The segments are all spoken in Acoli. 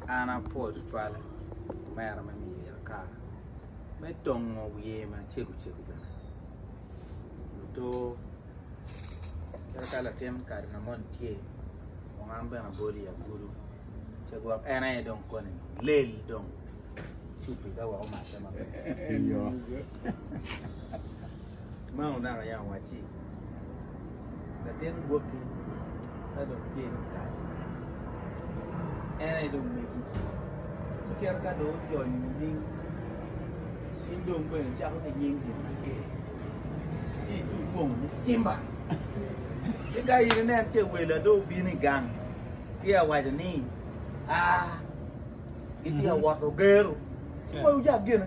An apwoyo tutwal omera me miyo myero akar me tongo wiye macego cego bene luto kadi ka latin kare na moni tye kong an bene abolo i agulu ce gwok en aye dong koni lel dong cubbi ka wek omate maber. Ma onaka aye awacci, latin gwokki ka dong tye dong kare, en aye dong megi. Ci kite ka dong ojony nining, in dong bene icako ki nying gin mager, ci ituc bong ni Cimba. Ci ka in inen ce welo ado obino i gang, ci awaco ni, aa, gitye ka wot ogero. Ci moyo ojak gine.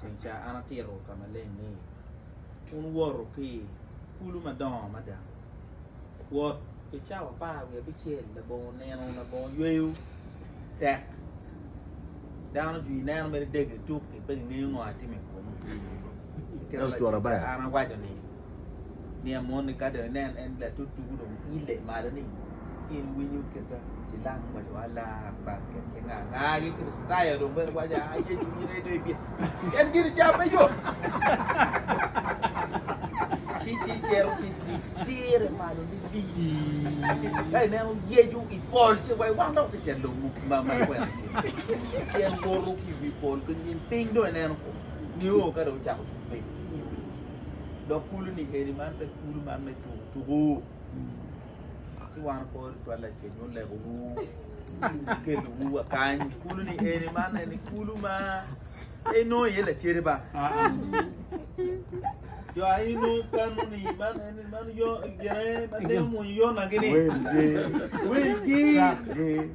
Ceng ca an atito ka maleng ni, Wun woto pi kulu madongo mada. Wot pi cawa apar wiye abicel labongo nino labongo yweyo tek. Dano jwi ineno mere dege tuk-ki, pe gingeyo ngo a timo i komi. Kit ma Ceng ca an awaco ni. Miya moni ka dong inen en latut tugu dong ile malo ni in winyo kita cilang waco wa lar bar ket ke nga nga gi kristaya dong bene waco a ye cunyi ne dong ibye en gini ca me yo ci ci cero ci di dire malo ni di ka inen yeju i pol ci wa wang dok ticel dong ma ma kwena ci ci en goro ki wi pol ki ngin piny dong inen ko ni o ka dong cako tupe Dok kulu ni eni man pe kulu man me tuku tuku. Ki wan po ri twal la ceng un leko wu. Kelu wu wa kany. Kulu ni eni man eni kulu ma e no ye la ceri ba. Jo a ino kanu ni man eni man yo gene man ne mu yo na gini. Wen gi. Wen gi.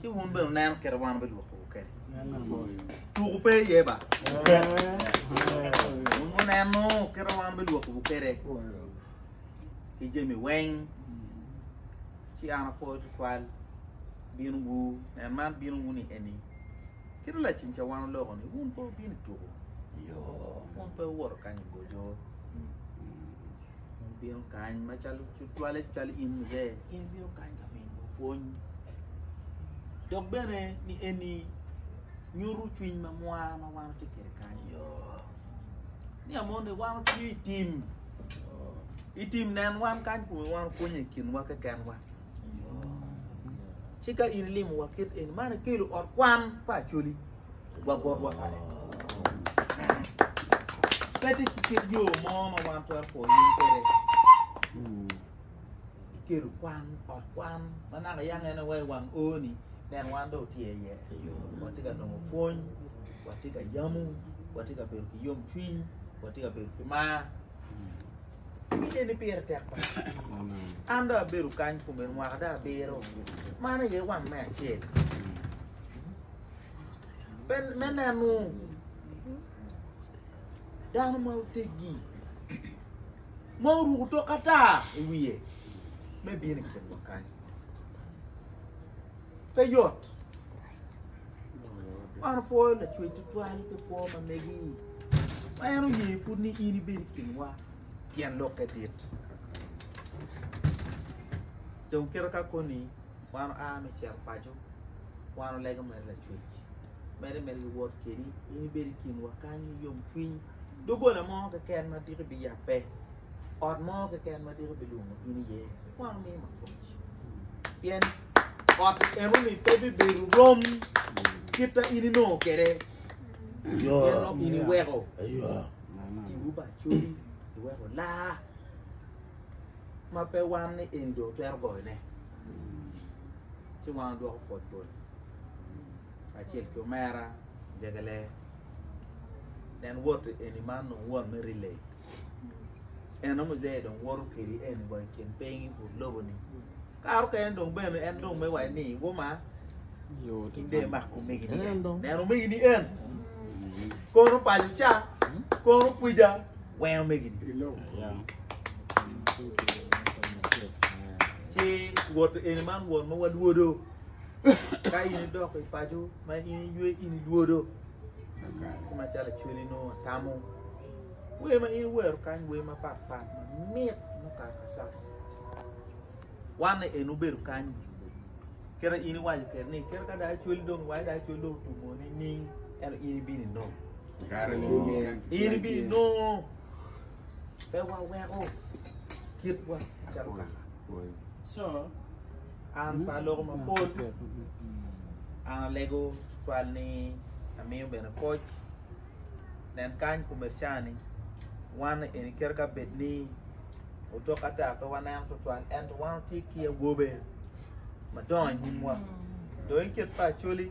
Ci wun bene wunen kit ma wan wubidwokowu kene. Tuku pe iye ba. Wun wuneno kit ma wan wubidwokowu kene ki jami weng. Ci an apwoyo tutwal binowu, nen man binowu ni eni. Kit laceng ca wan oloko ni wun pe wubino i tuku. Wun pe wuwoto kany i goco. Mon bino kany macalo cwale cwalo in muzee, in ibino kany ka mingo pwony. Dok bene ni eni nyuto cwiny ma mwa ma wan watye kede kany. Ni amon ni wan watye i tim. I tim nen wan kany kome wan pwonye i kinwa kekenwa. Ci ka in ilimowa kit eni, man ekelo ot kwan pa acoli. Pete ki kit yo mo ma wan twero pwoyo nying kwede. Kiketo kwan, ot kwan, ma naka yang en aye wang O-ni, neno wan dong otye iye. Watye ka nongo pwony, watye ka yamo, watye ka bedo ki yom cwiny, watye ka bedo ki mar. Kite ni pire tek ba. An dong abedo kany kuom en mwaka dong abiro. Man aye wang me acel. me neno dano ma oteggi ma oruko tok ata i wiye me bino i kinwa kany pe yot man opwoyo lacwec tutwal pe kwo ma megi ma en oye pud ni in ibed i kinwa pien lokke dit dong kite ka koni Wan oa me cito paco, wan olego mere lacwec, mere mere ki wot kedi, in ibed i kinwa kany me yom cwiny, dogola mo keken ma diki bi yabbe, ot mo keken ma diki bi lwongo in iye, wan omiyi mapwoc, pien ot enoni pe bibedo rom kit ma in inongo kede, pien dong in iweko tibu bacori, iweko laa. ma pe wan ni eni dong twero goyone ci wan odwoko pwod bol acel ki omera jegele nen wot eni man dong wot me rile eno muzee dong woto kedi eni wa i kin piny but lobo ni Kare okene dong bene en dong me waci ni woma inde mak omegi ni en neno omegi ni en kono paco ca kono kwija weng omegi ni ci wot eni man wot ma walwodo ka in idok i paco ma in iywe in ilwodo ci macalo cweli nongo atamo wer ma in iwero kany wer mapatpat mamit mukato asas Wanne en obedo kany i nge Yecu. Kere in iwaco kere ni, kere ka dai cwel dong, wai dai cwel dong otumo ni ning, eno in ibini nong. In ibini nong. Pe waweko kitwa calo kaka. So, an pa loko mapol, an alego twal ni amiyo bene pwoc. Nen kany kumercani, wanne eni kere ka bed ni otok ata pe waneno tutwal ento wan watye ki awobe madongo i nyimwa dong i kit pa Acholi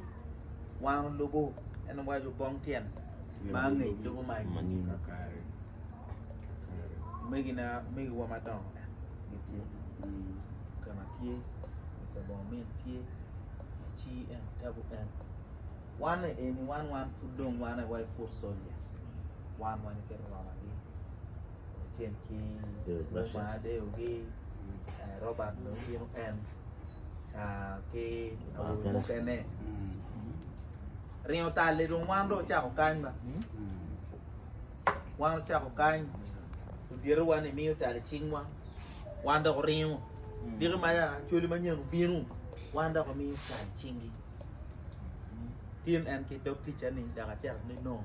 wan olubo en owaco bong tyen ma angec lubo ma anyim omegina omegiwa madongo gitye kama tye Mr. Bongamin tye ci en tabu en wan eni wan wan pud dong wan aye wa i foot soldiers wan wan iketowamagi. kacel ki Lubanga deyogi Robert dong bino en ki awobi mukene ringo tal-li dong wan dong ocako kany ba wan ocako kany odyerowa ni miyo tal i cingwa wan dok oringo diki ma cwali manyen obino wan dok omiyo tal i cingi tin en ki dog ticca ni dok acito ni no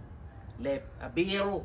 leb abiro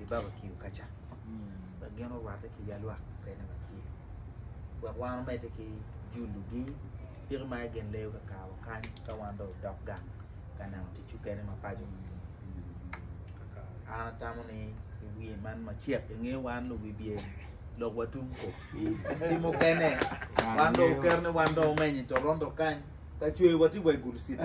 i babakio ka ca wek gin orwatte ki ya lwak mukene ma tye wek wan omedde ki julugi piki ma gin leyo ka kawa kany ka wan dong odok gang ka neno tic mukene ma paco an atamo ni i wiye man macek inge wan luwibye lok watum ko ki mukene wan dong oketo ni wan dong omenyo i toronto kany ka cwe wati wa i gulu city